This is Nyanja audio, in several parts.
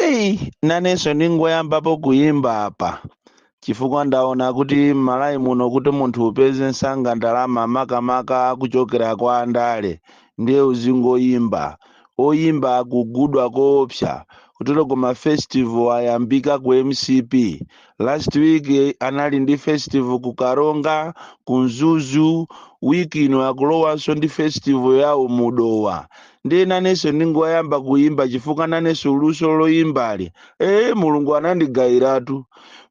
eyi nanenso ndingoyambapo kuyimba apa chifukwa ndaona kuti m'malawi muno kuti munthu upeze nsanga ndalama makamaka kuchokera kwa andale ndiye uzingoyimba oyimba akugudwa koopsa kutero koma festival ayambika ku mcp last week eh, anali ndi festival ku Karonga ku Mzuzu week ino akulowanso ndi festival yawo mu Dowa ndiye nanenso ndingoyamba kuyimba chifukwa nanenso luso loyimbali ee mulungu anandigayiratu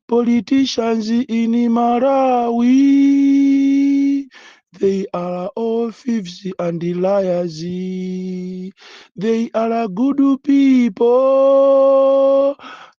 politicians in malawi They are all thieves and liars. They are good people,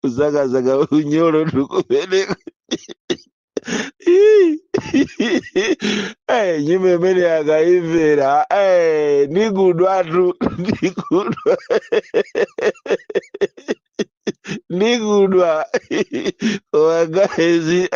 kusakasaka unyolo ndikumeneko Eh, nyimbo imene yakaimvera eh, ndikudwatu ndikudwa ndikudwa wakaezi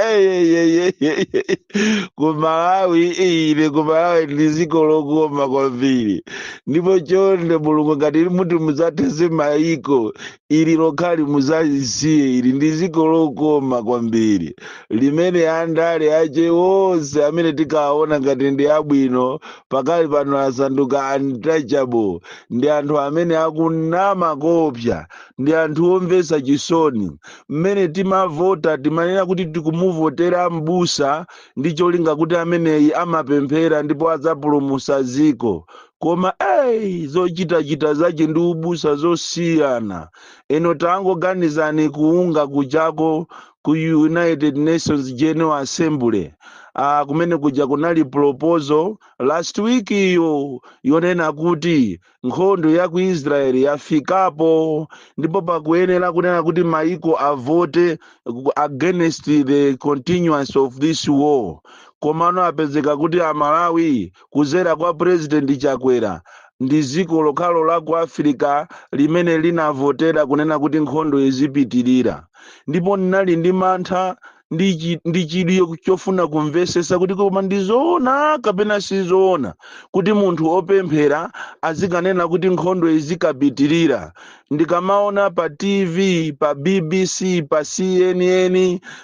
kumalawi ine kumalawi ndiziko lokoma kwambiri ndipo chonde mulungu ngati muti mudzatenthe maiko ili lokhali muzalisiye ili ndi dziko lokoma kwambiri limene andale ache onse amene tikawaona ngati ndi abwino pakali pano asanduka untouchable ndi anthu amene akunama koopsa ndi anthu omvetsa chisoni mmene timavota timanena kuti tikumuvotera mbusa ndi cholinga kuti ameneyi amapemphera ndipo adzapulumutsa dziko koma eyi zochitachita zache ndi ubusa zosiyana inu tangoganizani ku UNGA kujako ku united nations general assembly ah, kumene kuja kunali proposal last week iyo yonena kuti nkhondo ya ku israeli yafikapo ndipo pakuyenera kunena kuti maiko avote ku- against the continuance of this war komano apezeka kuti amalawi kuzera kwa president chakwera ndi dziko lokhalo la ku afirika limene linavotera kunena kuti nkhondo izipitirira ndipo ndinali ndi mantha ndi chi- ndi chidwi yoku- chofuna kumvesesa kuti koma ndizoona kapena sizoona kuti munthu wopemphera azikanena kuti nkhondo izikapitirira ndikamaona pa tv pa bbc pa cnn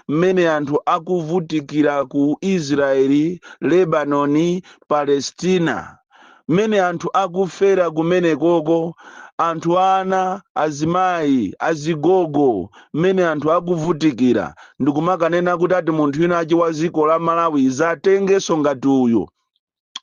mmene anthu akuvutikira ku israeli lebanoni palestina mmene anthu akufera kumenekoko anthu ana azimayi azigogo mmene anthu akuvutikira ndikumakanena kuti ati munthu winawake wa dziko la malawi dzatengenso ngati uyu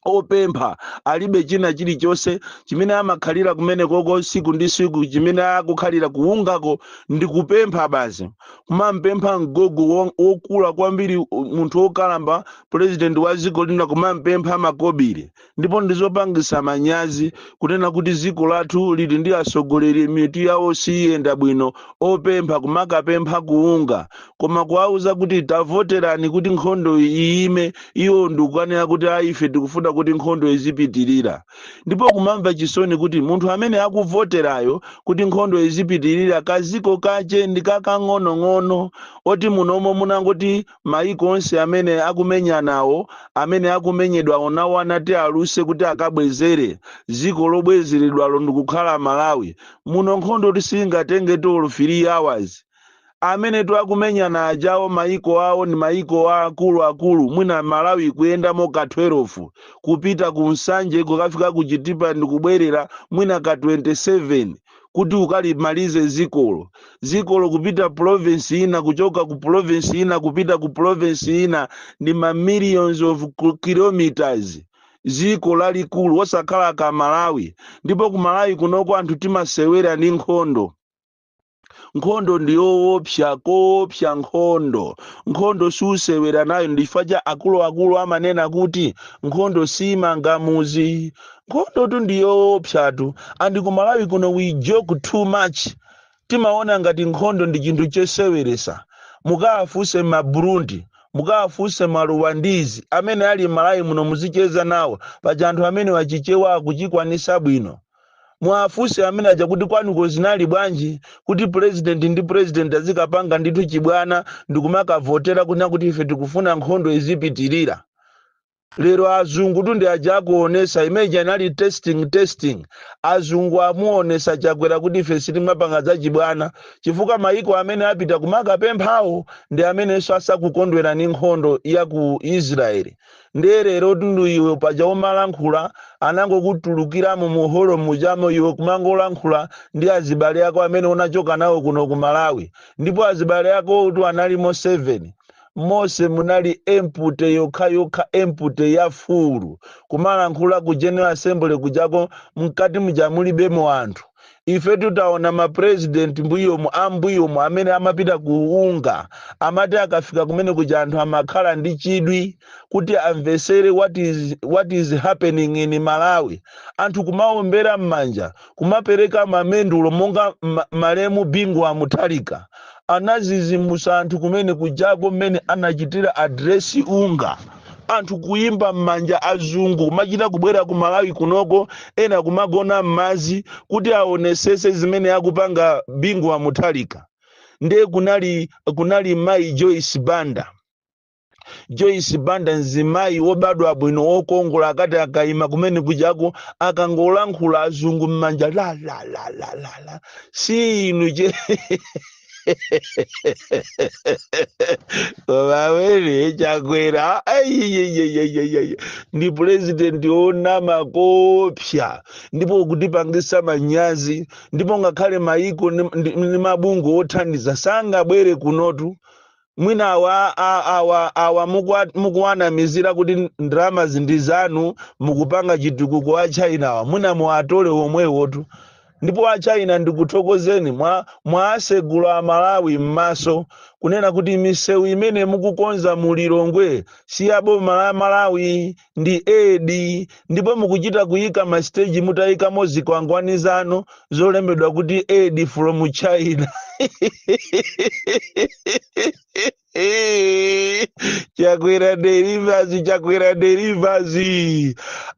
opempha alibe china chilichonse chimene amakhalira kumenekoko siku ndi siku chimene akukhalira ku UNGA-ko ndi kupempha basi kumampempha mgogo wo- wokula kwambiri u- munthu wokalamba purezidenti wa dziko lina kumampempha makobiri ndipo ndizopangisa manyazi kunena kuti dziko lathu lili ndi atsogoleri mitu yawo siyenda bwino opempha kumakapempha ku UNGA koma kuwauza kuti tavoterani kuti nkhondo iyime iwo ndikukanena kuti ayi ife tikufuna kuti nkhondo izipitirira ndipo kumamva chisoni kuti munthu amene akuvoterayo kuti nkhondo izipitirira kaziko kache ndi kakang'onong'ono oti munomo munangoti mayiko onse amene akumenyanawo amene akumenyedwawo nawo anati aluse kuti akabwezere ziko lobwezeredwalo ndikukhala malawi muno nkhondo tu singatenge olo 3 hours amenetu akumenyana ajawo maiko awo ndi maiko a akuluakulu mwina malawi kuyendamo ka 12 kupita ku nsanje kukafika ku chitipa ndi kubwerera mwina ka 27 kuti ukalimalize zikolo zikolo kupita province ina kuchoka ku province ina kupita ku province ina ndi ma millions of ku- kilometers ziko lalikulu osakhala ka malawi ndipo ku malawi kunoko anthu timasewera ndi nkhondo nkhondo ndi yoopsa koopsa nkhondo nkhondo susewera nayo ndi chifukwa chake akuluakulu amanena kuti nkhondo simanga muzi nkhondotu ndi yoopsatu andi ku malawi kuno we joke too much timaona ngati nkhondo ndi chinthu choseweresa mukawafunse ma burundi mukawafunse ma ruwandizi amene ali m'malawi muno muzicheza nawo paja anthu amenewa chichewa akuchikwanisa bwino muwafunse amene aja kuti kwanuko zinali bwanji kuti president ndi president azikapanga ndithu chibwana ndikumakavotera kunena kuti ife tikufuna nkhondo izipitirira lero azungutu ndi aja akuonesa imeji anali testing testing azungu amuonesa chakwera kuti ife sitimapanga zachibwana chifukwa maiko amene apita kumakapemphawo ndi amenenso asakukondwera ni nkhondo ya ku israeli ndiye lerotu ndi iwe paja umalankhula anangokutulukiramo mu holo mujamo iwe kumangolankhula ndi azibale ako amene unachoka nawo kuno ku malawi ndipo azibale akowotu analimo 7 mose munali empute yokha yokha empute ya fulu kumalankhula ku general assembly kujako mkati muja mulibemo anthu ife titaona mapurezidenti mbuyomu ambuyomu amene amapita ku UNGA amati akafika kumene kuja anthu amakhala ndi chidwi kuti amvesere what is, what is happening in malawi anthu kumaombera m'manja kumapereka mamendulo monga ma- malemu bingu wa mutharika anazizimusa anthu kumene kujako mmene anachitira address UNGA anthu kuyimba m'manja azungu kumachita kubwera ku malawi kunoko ena kumagona m'madzi kuti aonesese zimene akupanga bingu wa muthalika ndiye kunali kunali mayi joyce banda joyce banda mzimayi wobadwa bwino wokongola akati akayima kumene kujako akangolankhula azungu m'manja la la la la la la si inu che mwawene chakwera aiyeyeyeyeye ndi purezidenti onama koopsa ndipo kutipangisa manyazi ndipo ngakhale maiko ndi ndi- ndi mabungwe othandiza sangabwere kunotu mwina awa a- awa awa mukwa- mukuwanamizira kuti ndalama zindi zanu mukupanga chitukuko a china awa mwina muwatole omwewotu ndipo a china ndikuthokozeni mwawasegula amalawi m'maso kunena kuti misewu imene mukukonza mu lilongwe si ya boma la malawi ndi aid ndipo mukuchita kuyika masiteji mutayikapo zikwangwani zanu zolembedwa kuti aid from china chakwera delivers chakwera delivers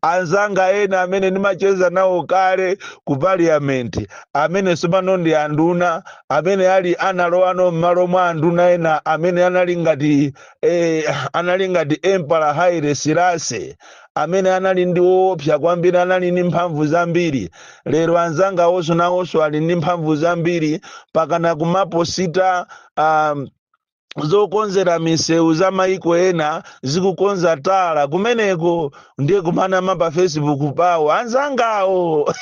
anzanga ena amene ndimacheza nawo kale ku parliament amene sopano ndi anduna amene ali analowano m'malo mwa anduna ena amene anali ngati eh, anali ngati emperor haile selassie amene anali ndi oopsa kwambiri anali ndi mphamvu zambiri lero anzanga awonso nawonso ali ndi mphamvu zambiri pakana kumaposita um, zokonzera misewu za maiko ena akukonza tala kumeneko ndiye kumanama pa facebook pawo anzangawo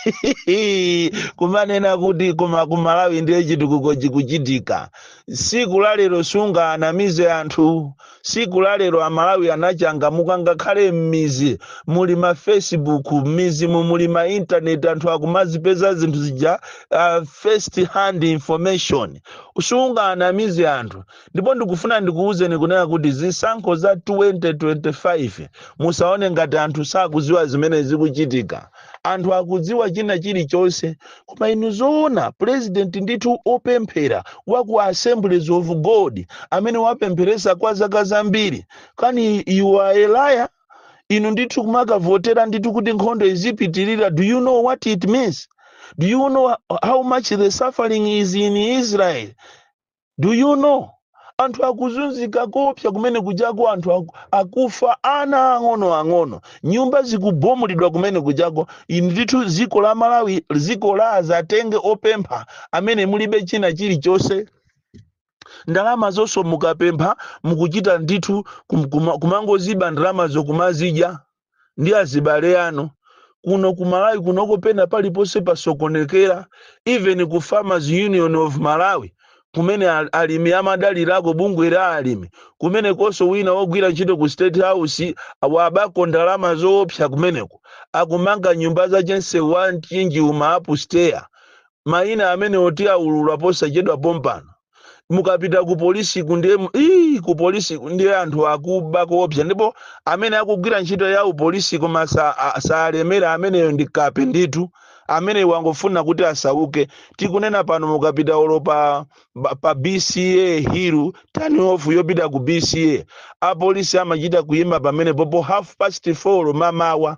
kumanena kuti koma kumalawi ndiye chitukuko chikuchitika siku la lero sungaanamize anthu siku la lero amalawi anachangamuka ngakhale m'mizi muli ma facebook m'mizimu muli ma internet anthu akumazipeza zinthu zija uh, first hand information sungaanamize anthu ndipo ndikufuna ndikuwuzeni kunena kuti zisankho za 2025 musaone ngati anthu sakuziwa zimene zikuchitika anthu akudziwa china chilichonse koma inu zoona president ndithu opemphera wa ku assemblies of god amene wapempheresa kwa zaka zambiri kani you are a liar inu ndithu kumakavotera ndithu kuti nkhondo izipitirira do you know what it means do you know how much the suffering is in israel do you know anthu akuzunzika koopsa kumene kujako anthu aku- akufa ana ang'ono ang'ono nyumba zikubomulidwa kumene kujako inu ndithu dziko la malawi dziko la azatenge opempha amene mulibe china chilichonse ndalama zonso mukapempha mukuchita ndithu kum- kuma- kumangoziba ndalamazo kumazidya ndi azibale anu kuno ku malawi kunoko pena paliponse pasokonekera even ku farmers union of malawi kumene al- alimi amadalirako bungwe la alimi kumenekonso wina wogwira ntchito ku state house wabako ndalama zoopsa kumeneko akumanga nyumba za chense wa mchinji uma upstairs mayina amene oti aulula posachedwa pompano mukapita ku polisi ku ndiye mu- ii, ku polisi ku ndiye anthu akuba koopsa ndipo amene akugwira ntchito ya upolisi koma sa- a- salemera ameneyo ndi kape ndithu amene wangofuna kuti asauke tikunena pano mukapita olo pa, ba- pa bca hill turn off yopita ku bca apolisi amachita kuyima pamene popo half past four mamawa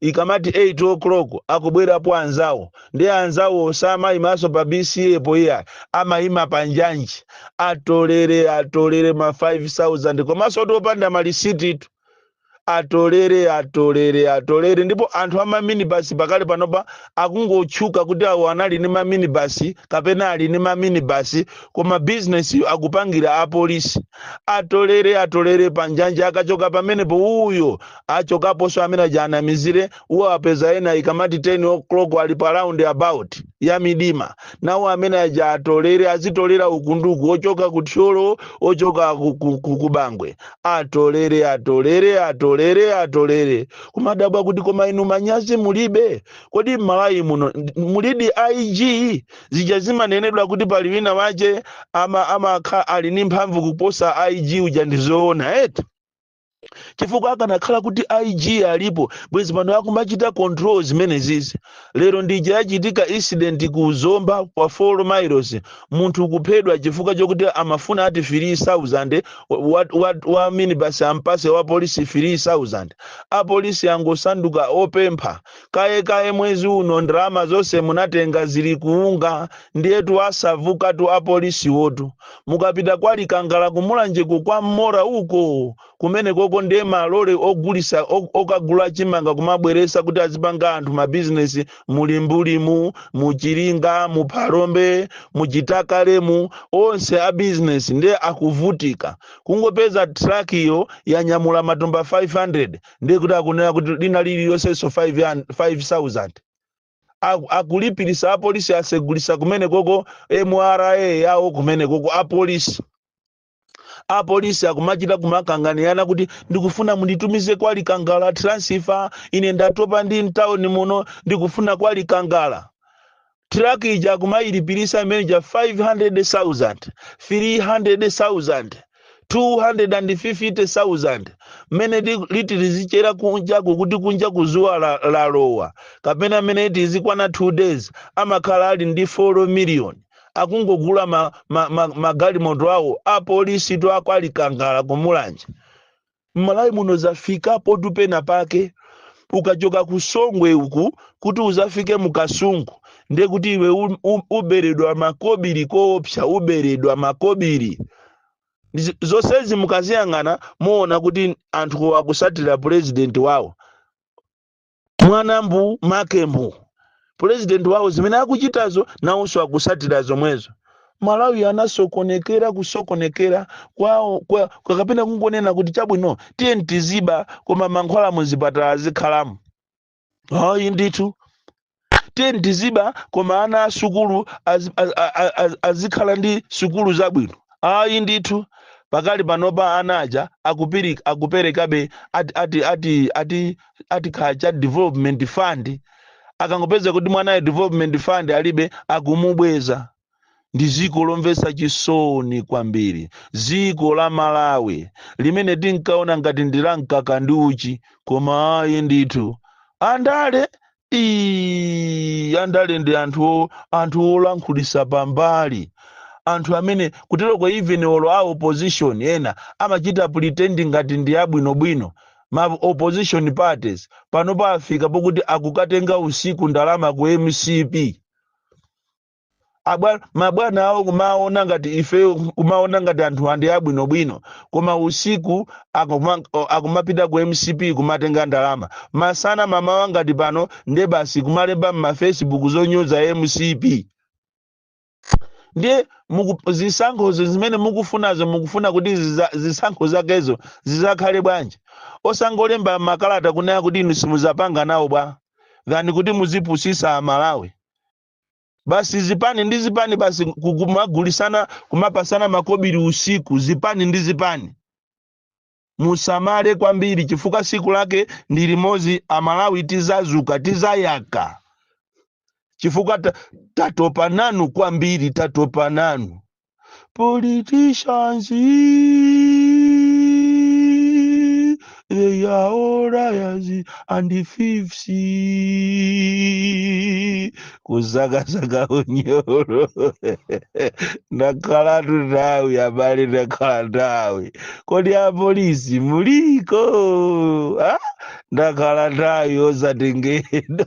ikamati 8 o'clock akubwerapo anzawo ndiye anzawowo samayimanso pa bca po iyayi amayima pa njanji atolere atolere ma 5000 komanso otu opanda malisititu atolere atolere atolere ndipo anthu a maminibasi pakali panopa akungotchuka kuti awo anali ndi maminibasi kapena ali ndi maminibasi koma bizinesiyo akupangira apolisi atolere atolere panjanji akachoka pamenepo uyo achokaponso amene aja anamizire awo apeza ena ikamati 10 o'clock ali pa roundabout ya midima nawo amene aja atolere azitolera uku ndi uku ochoka ku thyolo ochoka ku- ku- ku- ku bangwe atolere atolere atolere atolere kumadabwa kuti koma inu manyazi mulibe kodi m'malawi muno ndi- mulidi ig zija zimanenedwa kuti pali wina wache ama amakha ali ndi mphamvu kuposa ig uja ndizoona eti chifukwa akanakhala kuti ig alipo bwezi pano akumachita control zimenezizi lero ndija yachitika incident ku zomba kwa 4 miles munthu kuphedwa chifukwa chokuti amafuna ati 3000 wa, wa, wa, wa minibus ampase wa polisi 3000 apolisi angosanduka opempha kaye kaye mwezi uno ndalama zonse munatenga zili kuunda ndiyetu asavukatu apolisiwotu mukapita kwa likangala kumulanjeko kwa mmora uko kumene koko ndiye malole ogulisa o- okagula chimanga kumabweresa kuti azipanga anthu mabizinesi mu Limbuli mu mu Chiringa mu Phalombe mu Chitakale mu onse a bizinesi ndiye akuvutika kungopeza trakiyo yanyamula matumba 500 ndiye kuti akunena kuti lina lililonsenso 5000 Aku- akulipirisa apolisi asegulisa kumene koko mra yawo kumene koko apolisi apolisi akumachita kumakanganirana kuti ndikufuna munditumize kwa likangala transfer ine ndatopa ndi mtawuni muno ndikufuna kwa likangala truck ija kumayilipirisa manager 500,000 300,000 250,000 mmene li- liti lizichera kunjaku kuti kunja ku zuwa la- lalowa kapena mmene liti lizikwana 2 days amakhala ali ndi 4 million akungogula magalimoto ma, ma, ma magalimoto awo apolisitu akwa likangala kumulanje Mmalawi muno zafika potupa penapake. Ukachoka ku Songwe uku kuti uzafike mu Kasungu ndiye kuti iwe u, u, uberedwa makobiri koopsa, uberedwa makobiri. Ndi- Zonsezi mukaziyang'ana muona kuti anthu akusatira president wawo. mwana mbu make mbu pulezidenti wawo zimene akuchitazo nawonso akusatira zomwezo malawi anasokonekera kusokonekera kwawo kwa, kwa kapena kungonena kuti chabwino tiyeni tiziba koma mankhwala muzipatala azikhalamo ayi ndithu tiyeni tiziba koma ana a sukulu az- az- a- a- a- azikhala ndi sukulu zabwino ayi ndithu pakali panopa ana aja akupiri- akuperekabe ati ati ati ati ati kaya cha development fund akangopeza kuti mwanayo development fund alibe akumubweza ndi dziko lomvetsa chisoni kwambiri dziko la malawi limene tinkaona ngati ndi la mkaka ndi uchi koma ayi ndithu andale Ii, andale ndi anthu o- anthu olankhulisa pambali anthu amene kuteroko even olo a opposition ena amachita pretend ngati ndi abwinobwino ma opposition parties panopa afika pokuti akukatenga usiku ndalama ku mcp Abwa- mabwana awo kumaona ngati ifeyo kumaona ngati anthuwa ndi abwinobwino koma usiku akuma- o- akumapita ku mcp kumatenga ndalama masana mamawa ngati pano nde basi kumalemba m'mafacebook zonyoza mcp ndiye muku- zisankhozo zimene mukufunazo mukufuna kuti ziza- zisankho zakezo zizakhale bwanji osangolemba makalata kunena kuti inu simuzapanga nawo bwa than kuti muzipusisa amalawi basi zipani ndi zipani basi ku- kumagulisana kumapasana makobiri usiku zipani ndi zipani musamale kwambiri chifukwa siku lake ndi limodzi amalawi tizazuka tizayaka chifukwa ta- tatopa nanu kwambiri tatopa nanu politicians they are all liars and thieves kusakasaka unyolo ndakhalatu nthawi abale ndakhala nthawi kodi apolisi muliko ah? ndakhala nthawi osatengedwa